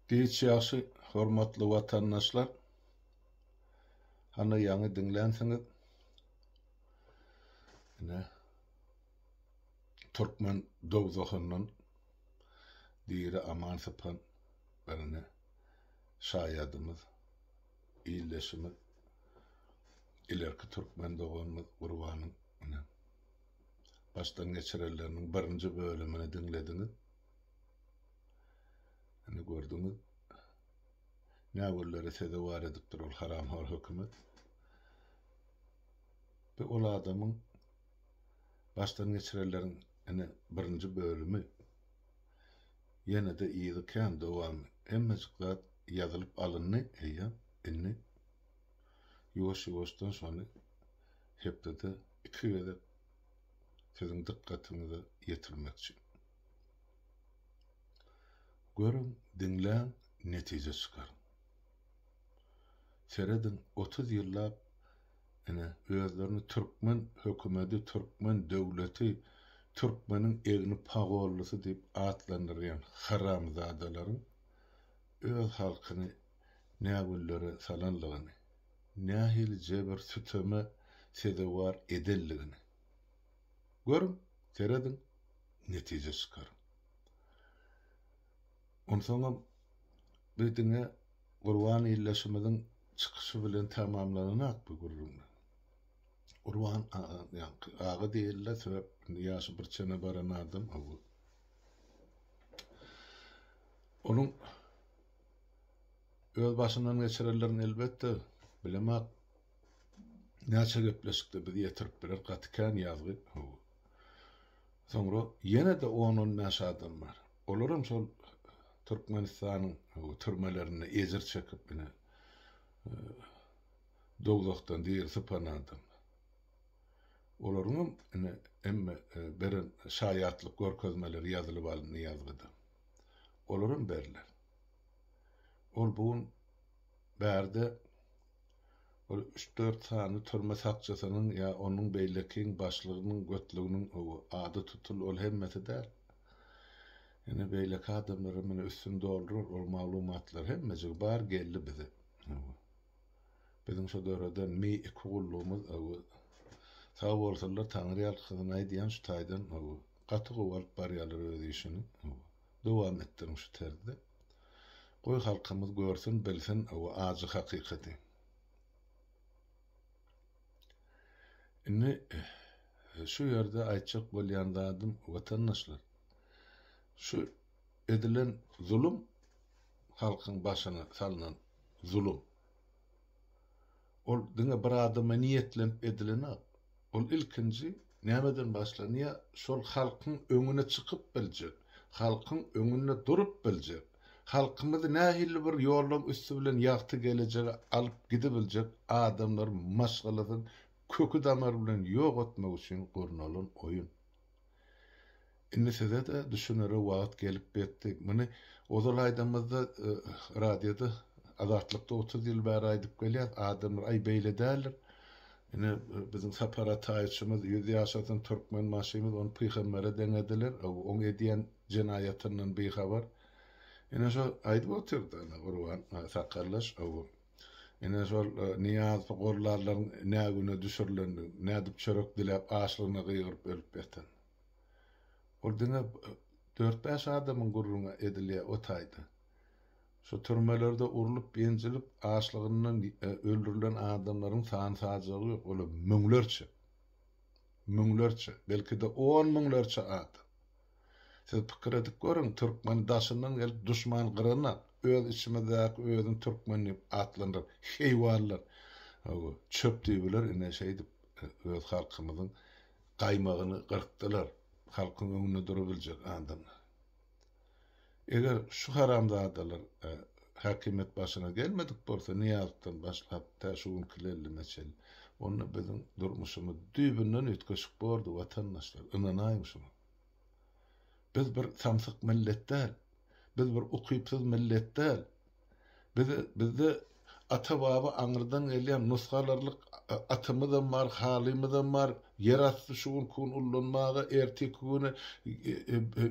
Giç ýagşy hormatly watandaşlar. Hany ýaňy diňlänsiňiz. Ine. Türkmen dowzahyndan diri aman sypan birine şaýadymyz, ildeşimiz, ilerki türkmen doganymyz Gurbanyň ine. başdan geçirenleriniň birinji bölümini diňlediňiz. Indi gördüňiz. Näwürleri sezewar edipdir ol haramhor hökümet. Bu ol adamyň başdan geçirenleriň ene birinji bölümi ýene de ýygy kän dowamy. Hemmejik zat ýazylyp alyndy, eýýäm indi ýuwaş-ýuwaşdan şony hepdede iki gezek siziň dykgatyňyza ýetirmekçi. Görüň, diňläň, netije çykaryň. Serediň, otuz ýyllap ine, özlerini türkmen hökümedi, türkmen döwleti, türkmeniň egni pagollysy diýip atlandyrýan haramzadalaryň öz halkyny nägüllere salanlygyny, nähili jebir-süteme sezewar edenligini görüň, serediň, netije çykaryň. Onsoňam bir diňe Gurban ildeşimiziň çykyşy bilen tamamlananak bu gürrüň. Gurban aga, ýaňky aga diýildi, sebäp indi ýaşy bir çene baran adam. Onuň öz başyndan geçirenlerini elbetde bilemak näçe gepleşikde bizi ýetirip biler gaty kän ýazgy ho soňra ýene-de on on bäş adam bar olaram şol türkmenistanyň türmelerinde ejir çekip ine dowzahdan dir sypan adam olaryňam ine emme beren şaýatlyk görkezmeleri ýazylyp alyndy ýazgyda olaram berler. Ol bu gün bärde bir üç-dört sany türme sakçysynyň ýa onuň beýlekiň başlygynyň götlüginiň ady tutuldy, ol hemmesi däl. Ine, beýleki adamlaram muny üstüni doldurar, ol maglumatlar hemmejigi bar geldi bize. Biziň şu döreden mi iki gullugymyz sag bolsunlar, taňryýalkasyn aýdýan şu taýdan Gaty gowy alyp barýalar öz işini. Hawa. Dowam etdiriň şu terzde. Goý halkymyz görsün, bilsin owo ajy hakykaty. Indi şu ýerde aýtjak bolýan zadym watandaşlar. Şu edilen zulum halkyň başyna salnan zulum. Ol diňe bir adama niýetlenip edilenok. Ol ilkinji nämeden başlanýar? Şol halkyň öňüne çykyp biljek, halkyň öňünde durup biljek, halkymyzy nähili bir ýollaryň üsti bilen ýagty gelejege alyp gidibiljek adamlar maşgalasyny köki-damary bilen ýok etmek üçin gurnalan oýun. Indi size-de düşünere wagt gelip betdi. Muny ozal aýdamyzda radioda Azatlykda otuz ýyl bäri aýdyp gelýäs. Adamlar aý beýle däldir. Ine biziň Sapar Ataýewiçimiz ýüz ýaşasyn Türkmenbaşymyz ony pygambere deňediler. Oň edýän jenaýatyndan bihabar. Ine şo aýdyp otyrdy ana Gurban sakaldaş. Ine, şol Nyýaz Gorlarlaryň nä güne düşürilendigini, nädip çörek diläp, açlygyna gygyryp ölüp ýatan. Ol diňe dört-bäş adamyň gürrüňi edilýär o taýda. Şu türmelerde urlup-ýenjilip, açlygyndan öldürilen adamlaryň san-sajagy ýok, olar müňlerçe. Müňlerçe, belki-de on müňlerçe adam. Siz pikir edip görüň, türkmeni daşyndan gelip duşman gyranda, öz içimizdäki özüni türkmen diýip atlandyran heýwanlar çöp diýibiler, ine şeýdip öz halkymyzyň gaýmagyny gyrkdylar, halkyň öňünde durubiljek adamlar. Eger şu haramzadalar häkimiýet başyna gelmedik bolsa, Nyýazowdan başlap, tä şu günki Lellime çenli, onda biziň durmuşymyz düýbünden üýtgeşik bordy, watandaşlar, ynanaýyň şuňa. Biz bir samsyk millet däl. Biz bir ukypsyz millet däl. Biz bizde ata baba aňyrdan gelýän nusgalarlyk atymyzam bar halymyzam bar ýer asty şu günki gün ullanmaga erteki güne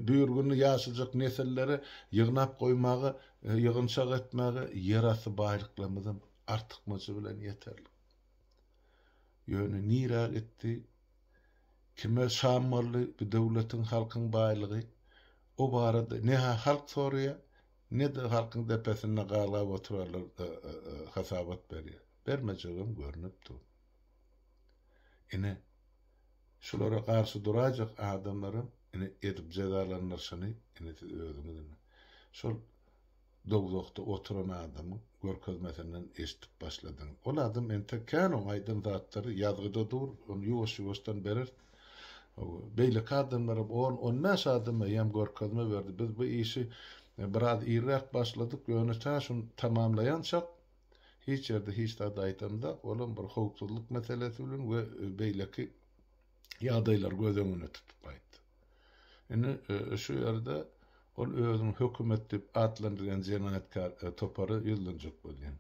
büýür günde ýaşajak nesillere ýygnap goýmaga ýygynçak etmäge ýer asty baýlyklarymyzam artykmajy bilen ýeterlik ýöne nirä gitdi kime şam boldy bu döwletiň halkyň baýlygy o barada ne halk soraýa Ne-de halkyň depesinde galgap oturarlar hasabat berýär. Bermejegem görnüp dur. Ine, şulara garşy duraýjak adamlaram ine edip jezalandyryşyny ine siz özüňiz ine şol dowzahda oturan adamyň görkezmesinden eşidip başladyňyz. Ol adam entek kän oň aýdan zatlary ýazgyda dur, ony ýuwaş-ýuwaşdan bereris. Beýleki adamlaram on, on bäş adam eýýäm görkezme berdi. Biz bu işi biraz irräk başladyk, ýöne tä şu tamamlaýançak hiç ýerde hiç zady aýdamzok. Olam bir howpsuzlyk meselesi bilen we beýleki ýagdaýlary göz öňünde tutup aýtdy. Indi şu ýerde ol özüni hökümet diýip atlandyrýan jenaýatkär topary ýüzlenjek bolýar.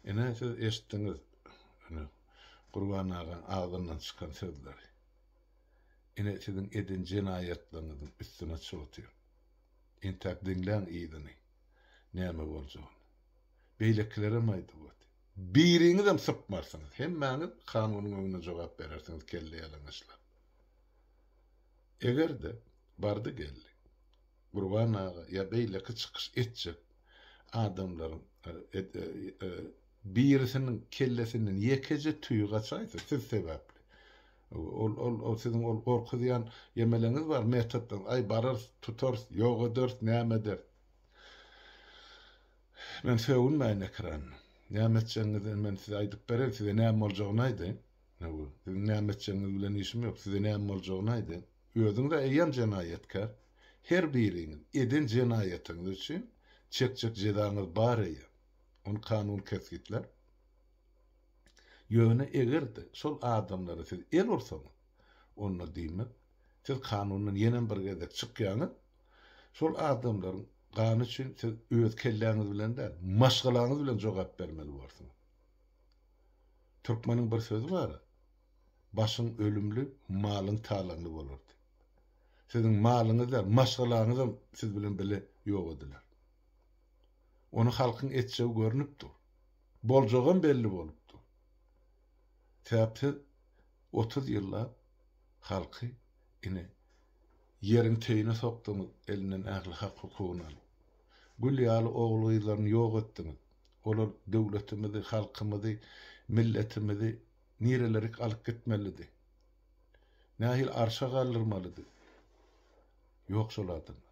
Ine, siz eşitdiňiz, ine, Gurban aga agzyndan çykan sözleri. Ine, siziň eden jenaýatlaryňyzyň üstüne çoty. Entäk diňläň yzyny, näme boljagyny. Beýlekilerem aýdywady. Biriňizem sypmarsyňyz, hemmäňiz kanunyň öňünde jogap berersiňiz kelle ýalaňaçlap. Eger-de, bardy-geldi, Gurban aga ýa beýleki çykyş etjek adamlaryň birisiniň kellesinden ýekeje tüýi gaçaýsa siz sebäpli. Ol ol ol siziň ol gorkuzýan ýemeleňiz bar metodlaryňyz aý bararys tutarys ýok ederis näme ederis. Men sögünmäýin ekranda. Näme etjegiňizi men size aýdyp bereýin size näme boljagyny aýdaýyn. Siziň näme etjegiňiz bilen işim ýok size näme boljagyny aýdaýyn. Özüňiz-ä eýýäm jenaýatkär. Her biriňiz eden jenaýatyňyz üçin çekjek jezaňyz bar eýýäm. Ony kanun kesgitlär. Ýöne eger-de şol adamlara siz el ursaňyz, onda diýmek, siz kanundan ýenem bir gezek çykýaňyz. Şol adamlaryň gany üçin siz öz kelläňiz bilen däl, maşgalaňyz bilen jogap bermeli bolarsyňyz. Türkmeniň bir sözi bar. Başyň ölümli, malyň talaňly bolardy. Siziň malyňyzam, maşgalaňyzam siz bilen bile ýok ediler. Ony halkyň etjegi görnüp dur. Boljagam belli bolup dur. Sebäp siz otuz ýyllap halky ine ýeriň teýine sokduňyz, elinden ähli hak-hukugyny alyp. Gül ýaly ogul-gyzlaryny ýok etdiňiz. Olar döwletimizi, halkymyzy, milletimizi Nirelerik alyp gitmelidi? Nähili arşa galdyrmalydy? Ýok şol adamy.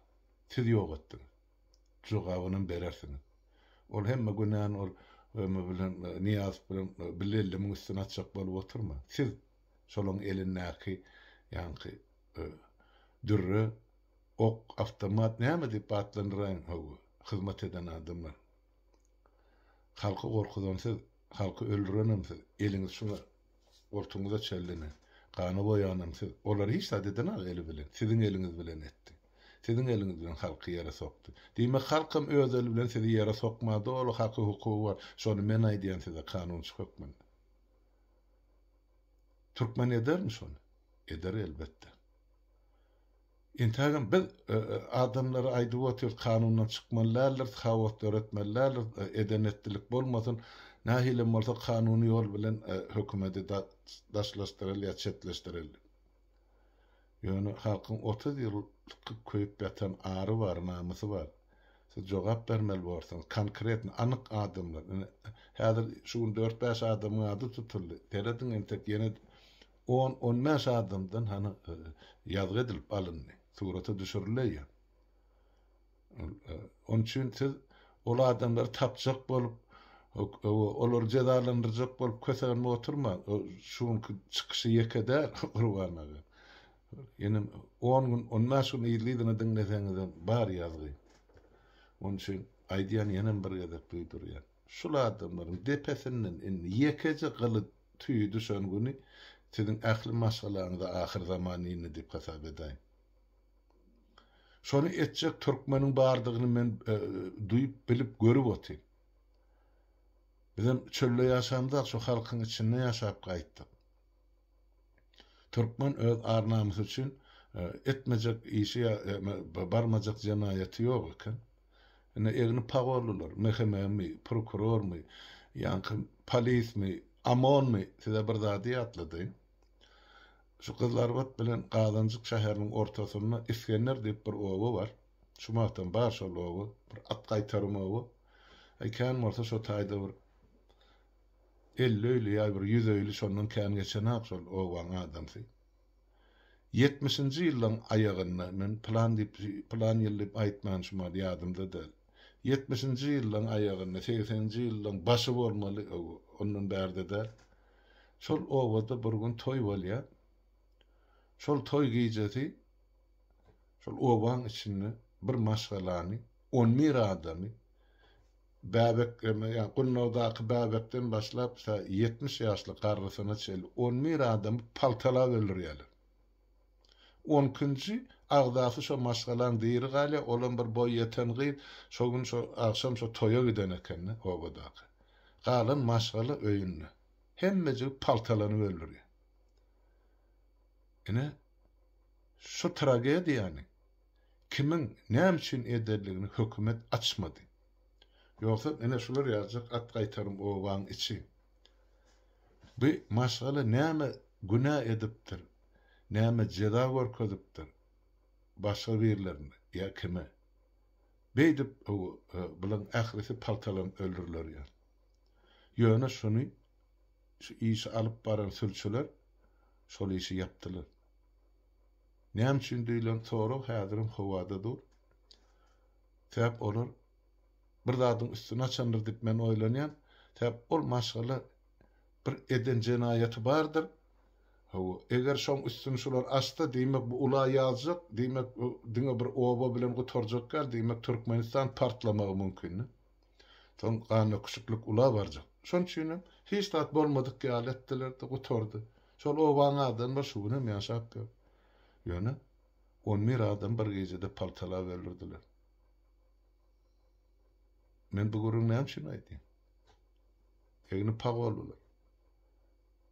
Siz ýok etdiňiz. Jogabynam berersiňiz. Ol hemme günäni ol Remy bilen Nyýazow bilen bile ellemiň üstüne atjak bolup oturma. Siz şolaň elindäki ýaňky dürre, ok, awtomat näme diýip atlandyraýyň, hawa, hyzmat eden adamlar. Halky gorkuzan siz, halky öldürenem siz, eliňiz şuňa, goltugyňyza çellene, gana boýanam siz. Olary hiç zat edenak eli bilen, siziň eliňiz bilen etdi. Siziň eliňiz bilen halky ýere sokdy. Diýmek halkam öz eli bilen sizi ýere sokma, doly haky hukugy bar. Şony men aýdýan size kanunçy hökmünde. Türkmen edermi şony? Eder elbetde. Entägem biz adamlara aýdyp otyrys kanundan çykmaly däldiris, haos döretmeli däldiris, eden etdilik bolmasyn, nähilem bolsa kanuny ýol bilen hökümedi daşlaşdyreli ýa çetleşdireli. Ýöne halkyň otuz ýyl kyp köýüp ýatan ary bar, namysy bar. Siz jogap bermeli borsuňyz, konkretno, anyk adamlar. Ine, häzir şu gün dört-bäş adamyň ady tutuldy. Serediň entek ýene On-on bäş adamdan hany ýazgy edilip alyndy, surata düşürileýär. Onuň üçin siz ol adamlary tapjak bolup, olary jezalandyrjak bolup kösenip oturmaň. Şu günki çykyşy ýeke däl, Gurban aga. Ýene on gün, on bäş gün yzly-yzyna diňleseňizem bar ýazgy. Onuň üçin aýdýan ýenem bir gezek duýdurýan. Şul adamlaryň depesinden indi ýekeje gyly tüýi düşen güni siziň ähli maşgalaňyza ahyr zaman indi diýip hasap edäýin. Şony etjek türkmeniň bardygyny men duýup, bilip, görüp otyryn. Bizem çölde ýaşamyzak, şu halkyň içinde ýaşap gaýtdyk. Türkmen öz ar-namysy üçin etmejek işi ýa barmajak jenaýaty ýok eken. Ine egni pagollylar, MHM-mi, prokurormy, ýaňky polismi, OMON-my size bir zady ýatladaýyn. Şu Gyzlarbat bilen Gazanjyk şäheriniň ortasynda Isgender diýip bir oba bar. Şu wagtam bar şol oba, bir at gaýtarym oba. Eý kän bolsa şo taýda bir Elli öýli ýa bir ýüz öýli şondan kän geçenak şol obaň adamsy. Ýetmişinji ýyllaň aýagynda, men pylan diýip, pylan ýyl diýip aýtman şu mahaly ýadymda däl. Ýetmişinji ýyllaň aýagynda, segseninji ýyllaň başy bolmaly, ow, ondan bärde däl. Şol obada bir gün toý bolýar. Şol toý gijesi şol obaň içinde bir maşgalany, on bir adamy, bäbekleme, ýa gunnagdaky bäbekden başlap tä ýetmiş ýaşly garrysyna çenli on bir adamy paltalap öldürýärler. On ikinji agzasy şo maşgalaň diri galýar, olam bir boý ýeten gyz, şo gün şo agşam şo toýa giden eken-de obadaky. Galan maşgala öýünde. Hemmejigi paltalanyp öldürýär. Ine, şu tragediýany kimiň näme üçin ederligini hökümet açmady. Ýogsam ine şular ýazjak at gaýtarym obaň içi. Bu maşgala näme günä edipdir, näme jeza görkezipdir başga birlerine ýa kime. Beýdip bulaň ählisi paltalanyp öldüriler ýaly. Ýöne şuny şu işi alyp baran sülçüler şol işi ýapdylar. Näme üçin diýlen sorag häzirem howada dur. Sebäp olar bir zadyň üstüni açandyr diýip men oýlanýan. Sebäp ol maşgala bir eden jenaýaty bardyr. Hawa, eger şoň üstüni şular açsa, diýmek bu ula ýazjak, diýmek diňe bir oba bilen gutarjak däl, diýmek Türkmenistan partlamagy mümkin. Soň ganöküsliklik ula barjak. Şonuň üçinem hiç zat bolmadyk ýaly etdiler-de, gutardy. Şol obanyň adamlary şu gün hem ýaşap ýör. Ýöne on bir adam bir gijede paltalap öldürdiler. Men bu gürrüňi näme üçin aýdýan? Egni pag boldular.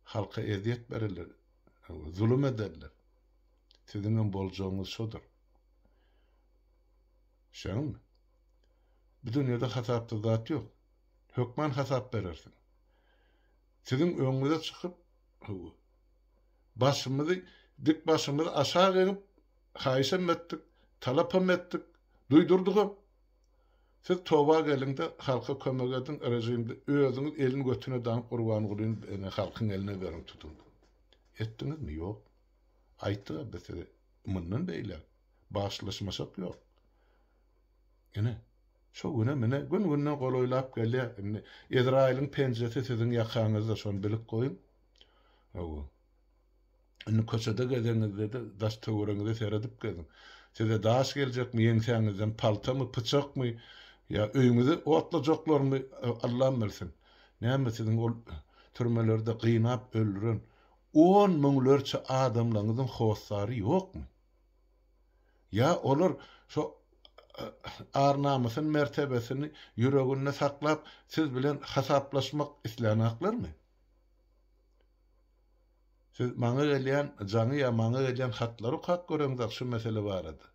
Halka ezýet bererler, zulum ederler. Siziň hem boljagyňyz şodur. Düşýäňizmi? Bu dünýede hasapsyz zat ýok. Hökman hasap berersiň. Siziň öňüňize çykyp, hawa, başymyzy, dik başymyzy aşak egip, haýyşam etdik, talapam etdik, duýdurdygam. Siz toba geliň-de, halka kömek ediň, režimde özüňiz elini götüne daňyp Gurbangulyny ene halkyň eline beriň, tutuň diýip. Etdiňizmi? Ýok. Aýtdyk-a biz size. Mundan beýläk, bagşylaşmasak ýok. Ine, şo günem, ine, gün-günden golaýlap gelýär. Indi Ezraýylyň penjesi siziň ýakaňyzda, şony bilip goýuň. Hawa. Indi köçede gezeňizde-de, daş-töweregiňize seredip geziň. Size daş geljekmi, ýeňsäňizden paltamy, pyçakmy ýa öýüňizi otlajaklarmy, Allam bilsin. Näme, siziň ol türmelerde gynap öldüren on müňlerçe adamlaryňyzyň hossary ýokmy? Ýa olar şo ar-namysyn, mertebesini ýüreginde saklap, siz bilen hasaplaşmak islänaklarmy? Siz maňa gelýän jaňy ýa maňa gelýän hatlary okap göreňzak şu mesele barada.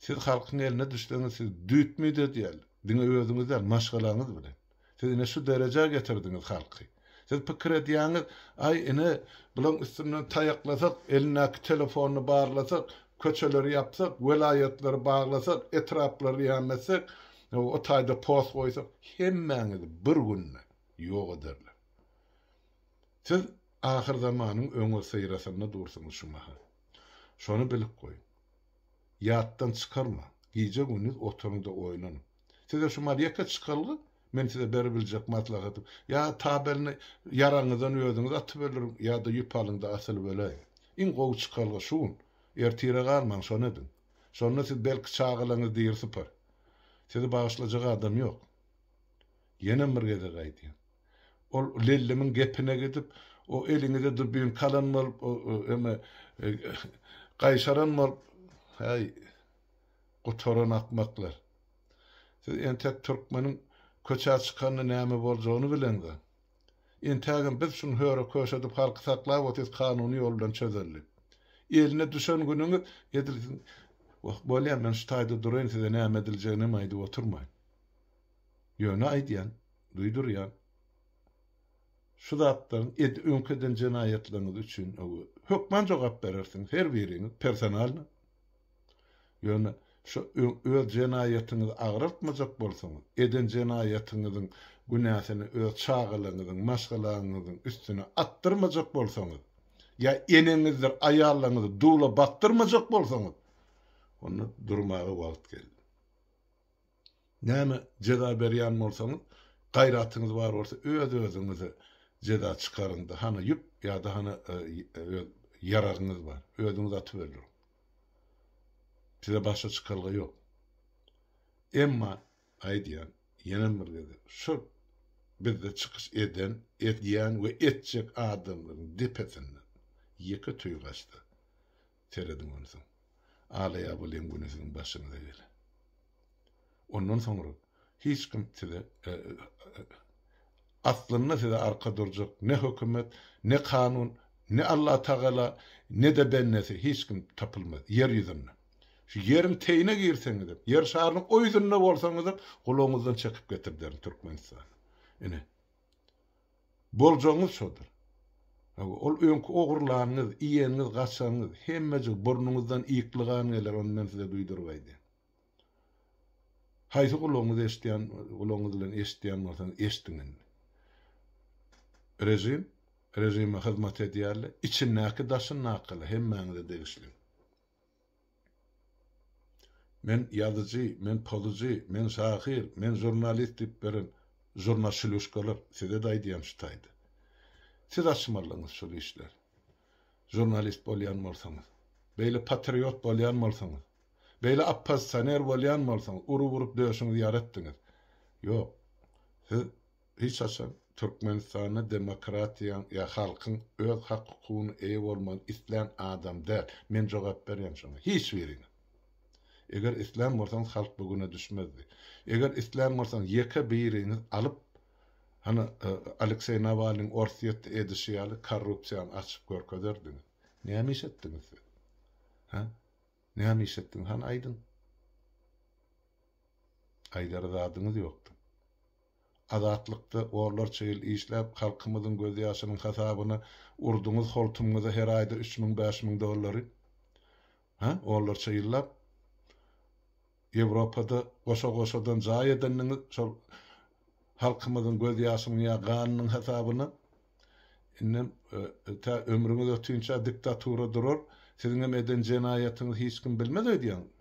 Siz halkyň eline düşseňiz siz düýtmi dözýäl, diňe özüňiz däl, maşgalaňyz bilen. Siz ine şu derejä getirdiňiz halky. Siz pikir edýäňiz, aý ine bulaň üstünden taýaklasak, elindäki telefonyny barlasak, köçeleri ýapsak, welaýatlary baglasak, etraplary ýametsek, o taýda post goýsak, hemmäňizi bir günde ýok ederler. Siz ahyr zamanyň öňüsyrasynda dursuňyz şu mahal. Şony bilip goýuň. Ýatdan çykarmaň. Gije-gündiz oturyňda oýlanyň. Size şu mal ýeke çykalga, men size beribiljek maslahatym, ýa tabelini ýaraňyzdan özüňiz atyp öldüriň, ýa-da ýüp alyň-da asylyp öläýiň. Iň gowy çykalga şu gün. Ertire galmaň, şony ediň. Şonda siz belki çagalaryňyzy diri sypar. Sizi bagyşlajak adam ýok. Ýenem bir gezek aýdýan. Ol Lellimiň gepine gidip, o eliňize dubinka alan bolup, o eme, gaýşaran bolup, häý, Gutaran akmaklar. Siz entek türkmeniň köçä çykanda näme boljagyny bileňzä. Entägem biz şuny höre-köşe edip halky saklap otyrys kanuny ýol bilen çözeli. Eline düşen günüňiz edil siziň Wah, bolýa men şu taýda duraýyn size näme ediljeginem aýdyp oturmaýyn. Ýöne aýdýan, duýdurýan. Şu zatlaryň ed öňki eden jenaýatlaryňyz üçin hökman jogap berersiňiz her biriňiz personalno. Ýöne şu öz jenaýatyňyzy agraltmajak bolsaňyz, eden jenaýatyňyzyň günäsini öz çagalaryňyzyň, maşgalaňyzyň üstüne atdyrmajak bolsaňyz, ýa eneňizdir aýallaryňyzy dula bakdyrmajak bolsaňyz, onda durmaga wagt geldi. Näme jeza berýän bolsaňyz, gaýratyňyz bar bolsa öz-özüňize jeza çykaryňda, hany ýüp ýa-da hany öz ýaragyňyz bar, özüňiz atyberiň. Size başga çykalga ýok. Emma, aýdýan, ýenem bir gezek, şol bizde çykyş eden, edýän we etjek adamlaryň depesinden ýeke tüýgaçda, Serediň onsoň, alaýabylyň güni siziň başyňyza geler. Ondan soňra hiç kim size, aslynda size arka durjak ne hökümet, ne kanun, ne Allatagala, ne-de bendesi, hiç kim tapylmaz ýer ýüzünde. Şu ýeriň teýine girseňizem, ýer şarynyň o ýüzünde bolsaňyzam, gulagyňyzdan çekip getirderin Türkmenistany. Ine, Boljagyňyz şodur. Hawa, ol öňki ogurlanyňyz, iýeniňiz, gaçanyňyz, hemmejik burnuňyzdan ýykly gan geler, ony men size duýduryp aýdaýyn. Haýsy gulagyňyz eşidýän, gulagyňyz bilen eşidýän bolsaňyz, eşdiň indi. Režim, režime hyzmat edýärler, içindäki-daşyndaky-la hemmäňize degişli. Men ýazyjy, men pozyjy, men şahyr, men žurnalist diýip beren žurnaşiluşkalar, size-de aýdýan şu taýda. Siz açmalydyňyz şol işleri. Žurnalist bolýan bolsaňyz. Beýle patriot bolýan bolsaňyz. Beýle oppozisioner bolýan bolsaňyz, urup-urup döşüňizi ýaratdyňyz. Ýok. Siz Hiç haçan Türkmenistanda demokratiýaň ýa halkyň öz hak hukugyny eýe bolmagyny islän adam däl. Men jogap berýän şoňa. Hiç birine. Eger islän bolsaňyz halk bu güne düşmezdi. Eger islän bolsaňyz ýeke biriňiz alyp hany Alekseý Nawalnyň Orsýetde edişi ýaly korrupsiýany açyp görkezerdiňiz. Näme iş etdiňiz siz? Hä? Näme iş etdiňiz hany aýdyň. Aýdara zadyňyz ýokdy. Azatlykda orlarça ýyl işläp, halkymyzyň gözýaşynyň hasabyna urduňyz holtumyňyza her aýda üç müň, bäş müň dollary. Hä, orlarça ýyllap Ýewropada goşa-goşadan jaý edendiňiz şol halkymyzyň gözýaşynyň ýa ganynyň hasabyna. Indem tä ömrüňiz ötünçä diktatura durar, siziňem eden jenaýatyňyzy hiç kim bilmez öýdýäňizmi?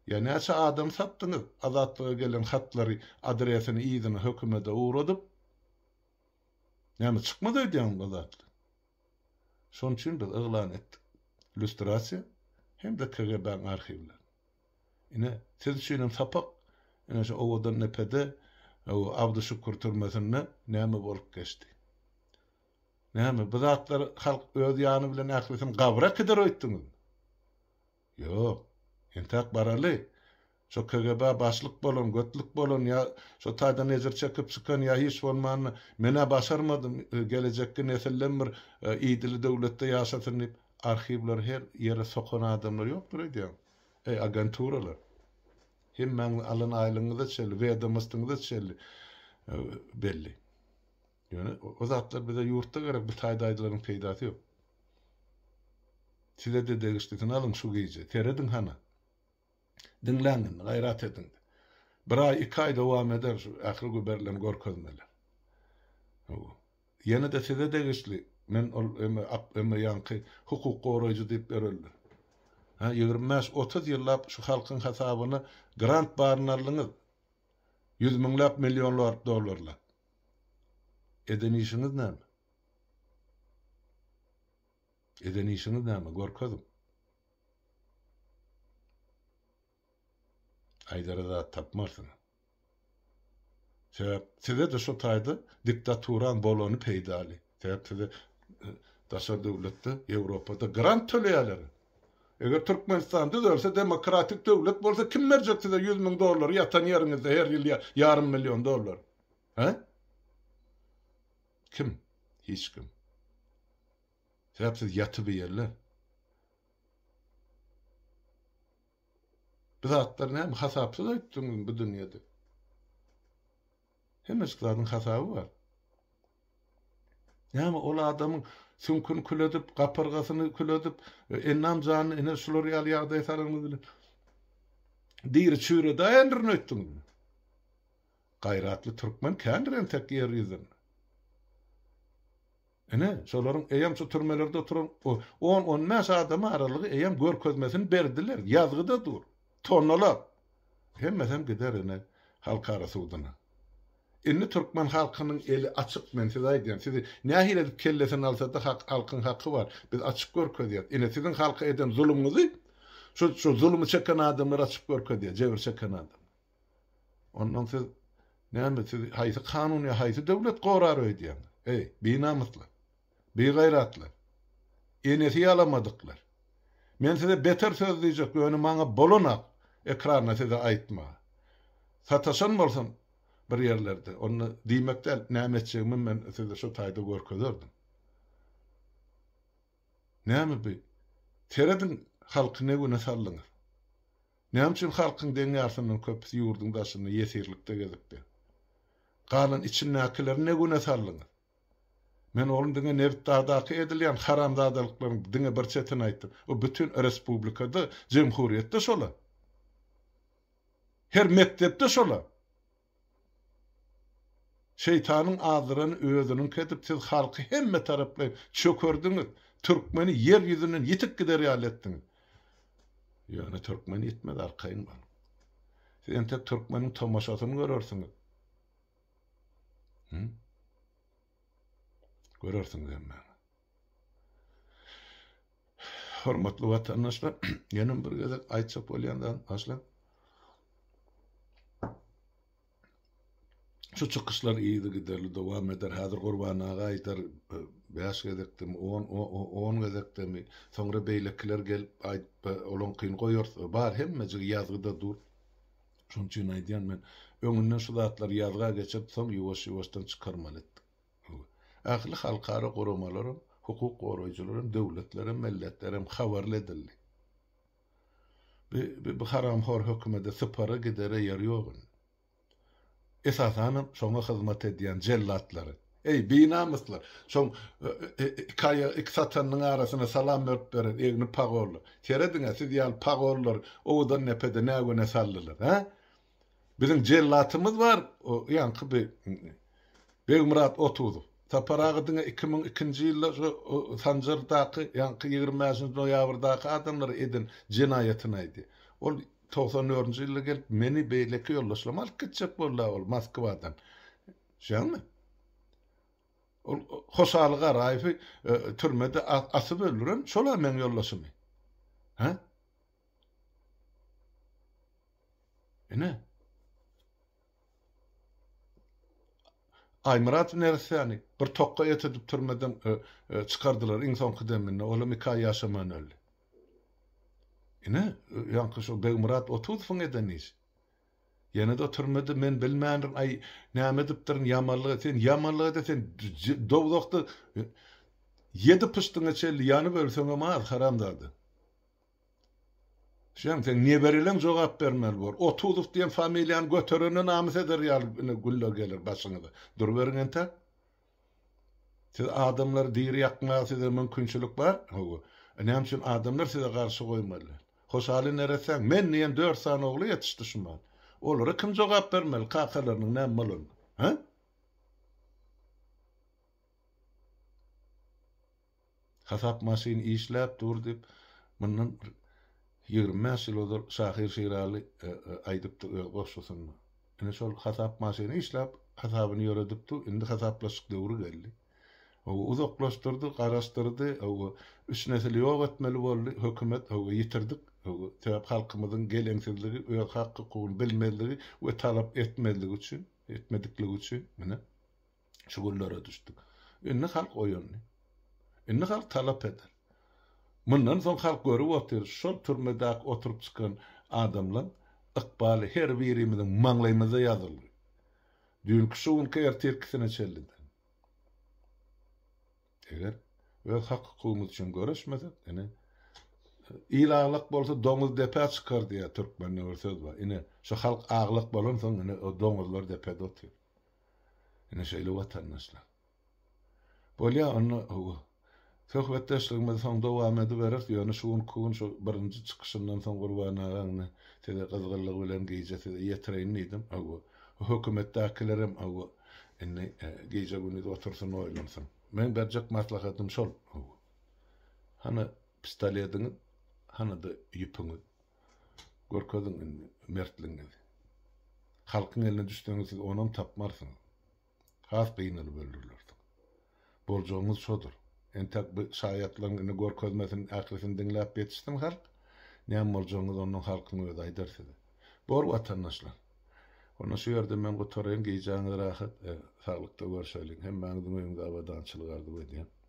Ýa näçe adam satdyňyz? Azatlyga gelen hatlary adresini yzyna hökümede ugradyp Näme çykmaz öýdýäňmi Azatly? Şon üçin biz yglan etdik. Lýustrasiýa hem-de KGB-nyň arhiwlerini. Ine, siz üçinem sapak. Ine şu owadan depede, Abdyşükür türmesinde näme bolup geçdi? Näme, bu zatlary halk öz ýany bilen ählisini gabra äkider öýtdüňizmi? Ýok. Entäk baraly. Şo KGB-a başlyk bolan, götlük bolan ýa şo taýdan ejir çekip çykan ýa hiç bolmanda, men-ä başarmadym, gelejekki nesilden bir idili döwletde ýaşasyn diýip, arhiwleri her ýere sokan adamlar ýokdur aýdýaň. Eý, agenturalar! Hemmäňiziň alan aýlygyňyz-da çenli, wedomostyňyz-da çenli belli. Ýöne o zatlar bize ýurtda gerek bu taý daýzalaryň peýdasy ýok. Sizede degişlisini alyň şu gije, serediň hana. Diňläň indi, gaýrat ediň. Bir aý, iki aý dowam eder şu ähli göberilen görkezmeler. Hawa. Ýene-de size degişli, men ol emme ak emme ýaňky hukuk goraýjy diýip ýörerler. Ha, ýigrimi bäş, otuz ýyllap şu halkyň hasabyna grant baryny aldyňyz. Ýüz müňläp, millionlarp dollarlap. Eden işiňiz näme? Eden işiňiz näme, görkeziň. Aýdara zat tapmarsyňyz. Sebäp size-de şu taýda diktaturan bolany peýdaly. Sebäp size e, daşary döwletde, Ýewropada grant töleýärler. Eger Türkmenistan düzelse, demokratik döwlet bolsa, kim berjek size 100 müň dollary ýatan ýeriňizde her ýyl ýarym million dollar? Hä? Kim? Hiç kim. Sebäp siz ýatybeýerler. Bu zatlar näme hasapsyz aýtdyňyzmy bu dünýede? Hemmejik zadyň hasaby bar. Näme ol adamyň süňküni kül edip, gapyrgasyny kül edip, e, ennam janyny ene şular ýaly ýagdaýa salanyňyz bilen diri çüýredaýendirin öýtdüňizmi? Gaýratly türkmen kändir entek ýer ýüzün. Ine, şolaryň eýýäm şu türmelerde oturan on-on bäş adamy aralygy eýýäm görkezmesini berdiler, ýazgyda dur. Tonnalap. Hemmesem gider ine, halkara suduna. Indi türkmen halkynyň eli açyk, men size aýdýan, sizi nähili edip kellesini alsa-da hak, halkyň haky bar. Biz açyk görkezýäs. Ine, siziň halka eden zulumyňyzy şu, şu zulumy çeken adamlar açyp görkezýär, jebir çeken adamlar. Ondan siz näme siz haýsy kanun ýa haýsy döwlet gorar öýdýäňiz? Eý, binamyslar. Bigaýratlar. Enesi ýalamadyklar. Men size beter söz diýjek, ýöne maňa bolanak ekranda size aýtmaga. Sataşan bolsam bir ýerlerde, onda diýmek däl, näme etjegimi men size şu taýda görkezerdim. Näme bi? Serediň halky ne güne saldyňyz. Näme üçin halkyň deň ýarysyndan köpüsi ýurduň daşynda ýesirlikde gezipdi? Galan içindäkileri ne güne saldyňyz? Men onuň diňe nebitdagdaky edilýän haramzadalyklaryň diňe bir çetini aýtdym. O bütin respublikada, jemhuryýetde şola. Her mekdepde şola. Şeýtanyň azdyrany özüniňki edip siz halky hemme taraplaýyn çökerdiňiz, türkmeni ýer ýüzünden ýitip gider ýaly etdiňiz. Ýöne türkmen ýitmez arkaýyn boluň. Siz entek türkmeniň tomaşasyny görersiňiz. Hü? Görersiňiz hemmäňiz. Hormatly watandaşlar, ýene bir gezek aýtjak bolýan zat başda Şu çykyşlar ýygy giderli dowam eder. Häzir Gurban aga aýdar 5 gezekdem, 10 10 gezekdem, soňra beýlekiler gelip aýdyp, olaňkyny goýarys. Bar hemmejigi ýazgyda dur. Şonuň üçin aýdýan men, öňünden şu zatlary ýazga geçirip, soň ýuwaş-ýuwaşdan çykarmaly etdik. Ähli halkara guramalaram, hukuk goraýjylaram, döwletlerem, melletlerem habarly edildi. Bi bi haramhor hökümede sypara gidere ýer ýok indi. Esasanam şoňa hyzmat edýän jellatlary. Eý, binamyslar! Şoň iki aýagy iki satanynyň arasyna salam berip beren egni pagollar. Serediň-ä, siz ýaly pagollar owadan depede nä güne saldylar, hä? Biziň jellatymyz bar, o ýaňky bi Begmyrat Otuzow. Sapar aga diňe iki müň ikinji ýylda şu Sanjardaky, ýaňky ýigrimi bäşinji noýabrdaky adamlara eden jenaýatyny aýdy. Ol togsan dördünji ýylda gelip, meni, beýleki ýoldaşlarymy alyp gitjek boldy-a ol Moskwadan. Şeýdäňmi? Ol Hoşaly Garaýewi türmede asyp öldüren şol-a meň ýoldaşymy. Hä? Ine. Aýmyrat neressäni bir tokga etedip türmeden çykardylar iň soňky deminde, olam iki aý ýaşamaýan öldi. Ine, ýaňky şo Begmyrat Otuzowyň eden işi. Ýene-de türmede men bilmändirin, aý, näme edipdirin, ýamanlyga, sen ýamanlyga-da sen dowzahda ýedi pyşdyňa çenli ýanyp ölseňem az, haramzada. Şeň seň nebereleň jogap bermeli bor. Otuzow diýen familiýany göterende namys eder ýaly ine günler geler başyňyza. Duruberiň entäk. Siz adamlary diri ýakmaga size mümkinçilik bar. Hawa. E näme üçin adamlar size garşy goýmaly? Hoşaly neresäň men diýen dört sany ogly ýetişdi şu mahaly. Olara kim jogap bermeli kakalarynyň näme bolanyna? Hä? Hasap maşyn işläp dur diýip, mundan ýigrimi bäş ýyl ozal şahyr Şiraly aýdypdy öz goşgusynda. Ine, şol hasap maşyny işläp, hasabyny ýöredipdi. Indi hasaplaşyk döwri geldi. Hawa, uzaklaşdyrdy, garaşdyrdy. Hawa, üç nesili ýok etmeli boldy hökümet. Hawa, ýitirdik. Hawa, sebäp halkymyzyň geleňsizligi, öz hak-hukugyny bilmezligi we talap etmezligi üçin, etmedikligi üçin. Ine. Şu günlere düşdük. Indi halk oýandy. Indi halk talap eder. Mundan soň halk görüp otyr, şol türmedäki oturyp çykan adamlaň ykbaly her birimiziň maňlaýymyza ýazyldy. Düýnki şu günki ertirkisine çeliden. Eger öz hak-hukugymyz üçin göreşmesek, ine, il aglak bolsa doňuz depä çykar diýýär türkmende bir söz bar. Ine, şu halk aglak bolansoň, ine, o doňuzlar depede otyr. Ine şeýle watandaşlar. Bolýa onda hawa. Söhbetdeşligimizi soň dowam ediberis, ýöne şu günki gün şu birinji çykyşyndan soň Gurban aga indi size gyzgynlygy bilen gije size ýetireýin diýdim. Hawa. Hökümetdäkilerem hawa indi gije gündiz otursyn oýlansyn. Meň berjek maslahatym şol. Hawa. Hany pistolediňiz, hany-da ýüpüňiz. Görkeziň indi mertligiňizi. Halkyň eline düşseňiz siz onam tapmarsyňyz. Has gynalyp öldürilersiňiz. Boljagyňyz şodur. Entäk bu şaýatlaryň indi görkezmesiniň ählisini diňläp ýetişsin halk. Näme boljagyňyzy ondan halkyň özi aýdar size. Bor watandaşlar. Onda şu ýerde men gutaraýyn. Gijäňiz rahat, saglykda görşeliň. Hemmäňiziň öýüňde abadançylyk arzuw edýän.